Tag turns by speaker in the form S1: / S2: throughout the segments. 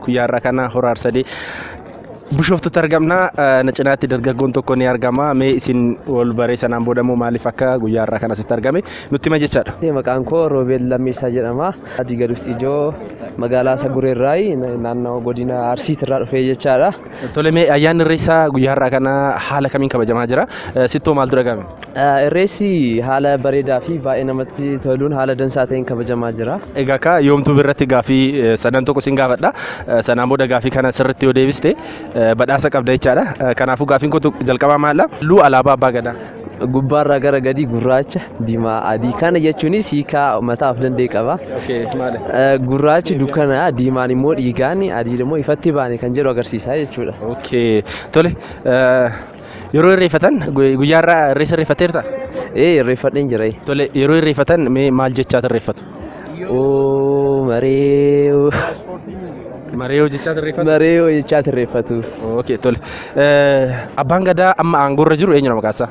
S1: Guyyaa irraa kana horaa arsadee bishooftutti argamna. Na cinaatti dargaggoon tokko ni argama. Mee isin wal baree sanaan booda immoo maaliif akka guyyaa irraa kana asitti argame nutti hima jechaadha. Maqaan koo Roobeel
S2: Lammeessaa jedhama. Adii Gaduutti ijoo magaalaa Saguree irraayi naannoo godina Arsiit irraa dhufee jechaadha. Tole mee ayyaanni
S1: irreessaa guyyaa irraa kana haala kamiin kabajamaa jira? Sittoo maaltu dhagahame? Irreessi
S2: haala bareedaa fi baay'ee namatti toluun haala dansaa ta'een kabajamaa jira. Egaa akka yoomtuu birratti
S1: gaafii sadan tokko sin gaafadha. Sanaan booda gaafii kana sirriitti yoo deebiste badhaasa qabda jechaadha. Kanaafuu gaafiin kootu jalqabaa maalidha? Halluu alaabaa abbaa gadaa. Gubbaarraa gara
S2: gadii gurraacha, diimaa, adii. Kana jechuunis hiikaa mataa of danda'e qaba. Gurraachi dukkana, diimaan immoo dhiigaan, adiin immoo ifatti baane kan jedhu agarsiisa jechuudha. Tole.
S1: Yeroo irreeffatan guyyaa irraa irreessa irreeffatteerta? Ee irreeffadheen
S2: jira. Tole yeroo irreeffatan
S1: mee maal jechaa irreeffatu? Oo maree
S2: oo.
S1: Maree yoo jechaa irreeffatu? Maree oo jechaa irreeffatu.
S2: Okay tole.
S1: Abbaan gadaa amma aangoo irra jiru eenyudha maqaan isaa?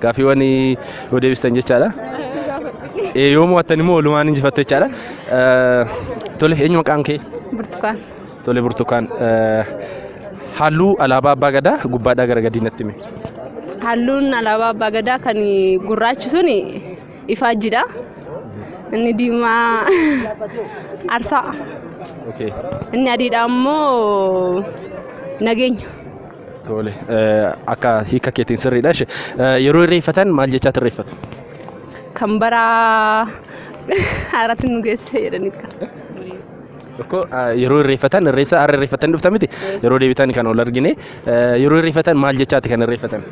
S1: Gaaffiiwwan yoo deebistan jechaadha. Ee, Yoo mo'attan immoo walumaan injifattu jechaadha. Eh, Tole eenyu maqaan kee? Burtukaan.
S3: Tole burtukaan.
S1: Eh, Halluu alaabaa abbaa gadaa gubbaadhaa gara gadii natti himi. Halluun
S3: alaabaa abbaa gadaa kan gurraachi sun ifaajjidha. Inni diimaa arsaa. Okay. Inni adiidha ammoo nageenya. Tole
S1: akka hiika keetiin sirriidha. Ishe yeroo irreeffatan maal jechaa irreeffatu? Kan
S3: bara haaraatti nu geesse jedhanii kan. Tokko
S1: yeroo irreeffatan irreessa har'a irreeffatan dhufta miti yeroo deebitan kan ol argine yeroo irreeffatan maal jechaati kan irreeffatan?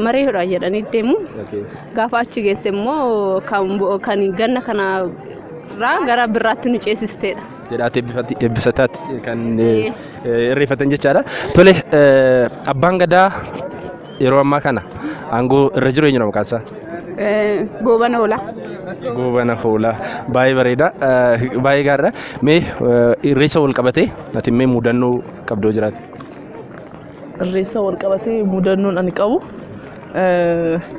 S1: Maree
S3: hodhaa jedhanii deemu. Gaafa achi geesse immoo kan ganna kana irraa gara birraatti nu ceesisteedha. jedhaati eebbifatti eebbisataatti kan eh, eh, irreeffatan jechaadha. Tole eh, abbaan gadaa yeroo ammaa kana aangoo irra jiru eenyudha maqaan isaa? Eh, Gooban oola. Goobana
S1: hoolaa baay'ee bareeda eh, baay'ee gaariidha. Mee eh, irreessa wal qabatee ati mee mudannoo qabdoo jiraate?
S4: Irreessa wal qabatee mudannoon ani qabu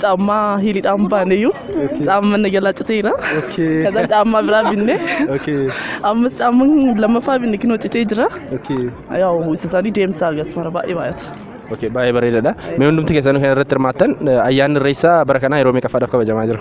S4: caammaa hiriidhaan baaneyyuu caamma na jalaa citeera. Okay. Kaza caammaa biraa binne Okay. ammas caamman lammaffaa binne kinoo citee jira. Okay. Yaa'u isa isaanii deemsaa gas mara baay'ee baay'ata. Okay, baay'ee bareedaadha.
S1: Mee hundumti keessanuu kan irratti hirmaattan eh, ayyaanni irreessaa bara kanaa yeroo meeqaffaadhaaf kabajamaa jira?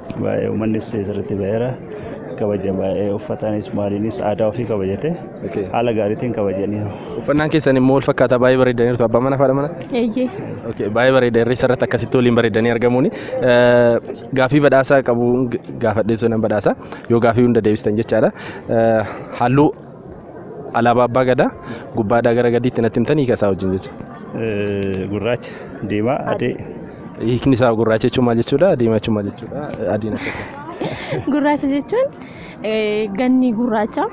S5: Baay'ee uummannis sirriitti ba'eera. Kabaja baay'ee uffataanis maaliinis aadaa ofii kabajate Okay. haala gaariitiin kabajaniiru. Uffannaan keessan immoo
S1: wal fakkaataa baay'ee bareedaniirtu abbaa manaa fi haadha manaa. Eeyyee. Okay, baay'ee bareeda irreessa irratti akkasitti waliin bareedanii argamuuni. Eh, Gaafii badhaasaa qabu gaafadhee turan badhaasa yoo gaafii hunda deebistan jechaadha. Eh, Halluu Alaabaa Abbaa Gadaa gubbaadhaa gara gadiitti natti himtanii hiika isaa wajjin jechuudha. Eh, Gurraacha,
S5: diimaa, adii. Hiikni isaa
S1: gurraacha jechuun maal jechuudha? Diimaa jechuun maal jechuudha? Adiin akkasuma. Gurraacha jechuun
S6: eh, ganni gurraacha.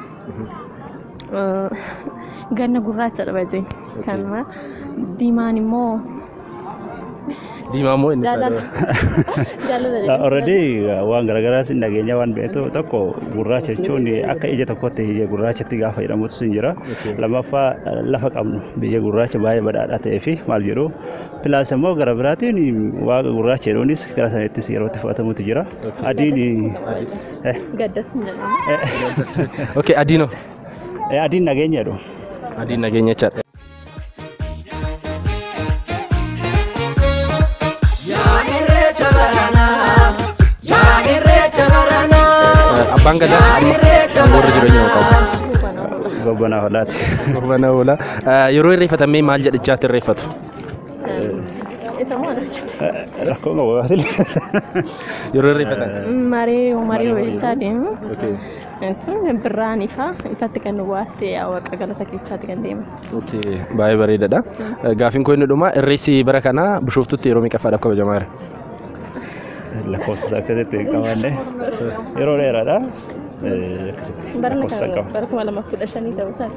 S6: Eh, Ganna gurraachadha baay'ee. Kanuma diimaan immoo Diimaa
S1: moo inni Jaalala. Jaalala jedhama.
S5: Already waan garaagaraas hin dhageenya waan beektu tokko gurraacha jechuun akka ija tokkotti ija gurraachatti gaafa jedhamutu sin jira. Lammaffaa lafa qabnu biyya gurraacha baay'ee badhaadhaa ta'ee fi maal jedhu pilaas immoo gara biraatiin waaqa gurraacha jedhuunis gara sanattis yeroo itti fudhatamutu jira. Adiin eh,
S6: Gaddas hin jedhamu. Okay, adiinoo.
S1: eh, adiin
S5: nageenya jedhu. Adiin nageenya
S1: jechaadha. Abbaan gadaa amma warra jireenya maqaasa. Gobbanaa
S5: hodhaati. Gobbana oola.
S1: Yeroo irreeffatamee maal jedhichaatti irreeffatu?
S6: Isa moo ana jette? Rakkoo qabu gaafate. Yeroo irreeffatan. Maree maree hojjechaa deemu. Okay. Birraan ifa ifatti kan nu baaste yaa waaqa galata keessaatti kan deema. Okay. Baay'ee
S1: bareedaadha. Gaafiin koo inni dhumaa irreessi bara kana bishooftutti yeroo meeqaffaadhaaf kabajamaa jira?
S5: Lakkoofsa isaa akkasitti hin qabaanne yeroo dheeraadha. Eh, Akkasitti
S6: Barana lakkoofsa kan qaba. bara kuma lamaaf kudha shanii ta'uu isaati.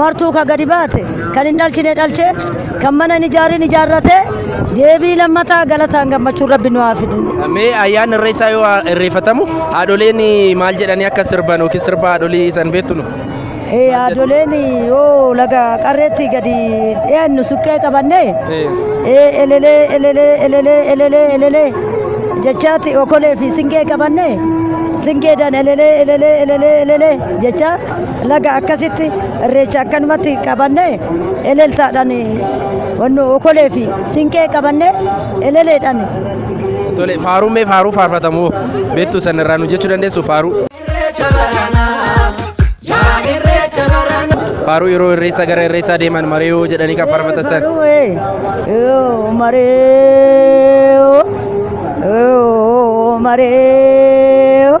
S7: martuu ka gadi baate kan hin dhalchine dhalche kan mana hin ijaarin ijaarrate deebii lammataa galataan gammachuun rabbi nu haa fidu. Mee ayyaanni
S1: irreessaa yoo irreeffatamu haadholeen maal jedhanii akka sirban yookiin sirba haadholii san beektu nu? Ee haadholeen
S7: yoo laga qarreetti gadi dhiyaannu suqqee qabanne ee elelee elelee elelee elelee elelee jechaatti okolee fi singee qabanne singee dan elelee elelee elelee elelee jechaa Laga akkasitti irreecha akkanumatti qabannee eleltaadhaan wanno okolee fi sinqee qabannee eleleedhaan Tole
S1: faaruu mee faaruu faarfatamu beektu sanarraa nu jechuu dandeessu faaruu. Faaruu yeroo irreessaa gara irreessaa deeman mari'uu jedhanii kan faarfatan san.
S7: Maree, maree,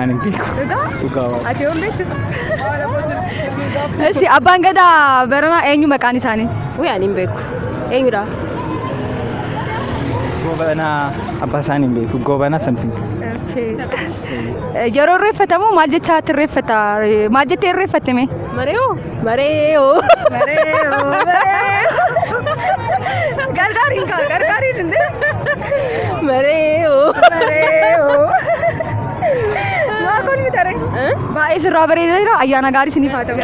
S8: Ani hin beeku.
S9: Dhugaa? Dhugaa waaqa. Ati yoom
S8: beektu? Eshi abbaan gadaa baranaa eenyu maqaan isaanii? Wee ani hin beeku.
S10: Eenyudha?
S9: Goobana abbaa isaanii hin beeku. Goobana something.
S8: Yeroo irreeffatamu maal jechaa irreeffata? Maal jettee irreeffatte mee? Mariyoo?
S10: Mareeyo. Mareeyo.
S8: Gargaariin kaa gargaariin hin deemu. Mareeyo.
S10: Mareeyo.
S8: Maa kun miti aree. Baay'ee sirraa bareeda jira. Ayyaana gaarii isiniif haa ta'u.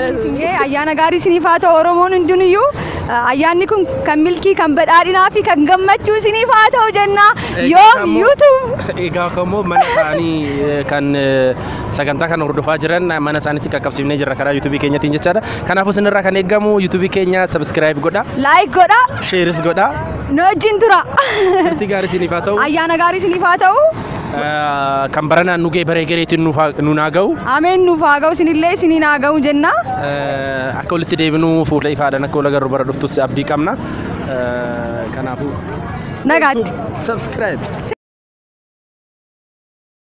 S8: Ee, Ayyaana gaarii isiniif haa ta'u Oromoon hundinuyyuu. eh, Ayyaanni kun kan milkii, kan badhaadhinaa fi kan gammachuu isiniif haa ta'u jenna. Yoom YouTube. Egaa kammoo mana
S1: isaanii eh, kan eh, sagantaa kana hordofaa jiran mana isaanitti qaqqabsiifnee jirra karaa yuutuubii keenyatiin jechaadha. Kanaafuu isinirraa kan eegamu yuutuubii keenya sabiskiraayib godha, Like godha.
S8: sheeris godha.
S1: Nu wajjin tura.
S8: Turtii gaarii
S1: isiniif haa ta'u. Ayyaana gaarii isiniif haa ta'u.
S8: Ah,
S1: Kan baranaan nu ga'e baree gareetiin nuuf haa- nuun haa ga'u. Ameen nuuf haa ga'u
S8: isinillee isiniin haa ga'u jenna. Eh, Akka
S1: walitti deebinu fuula ifaadhaan akka wal agarru bara dhuftus abdii qabna. Eh, Kanaafuu. Nagaatti. Subscribe.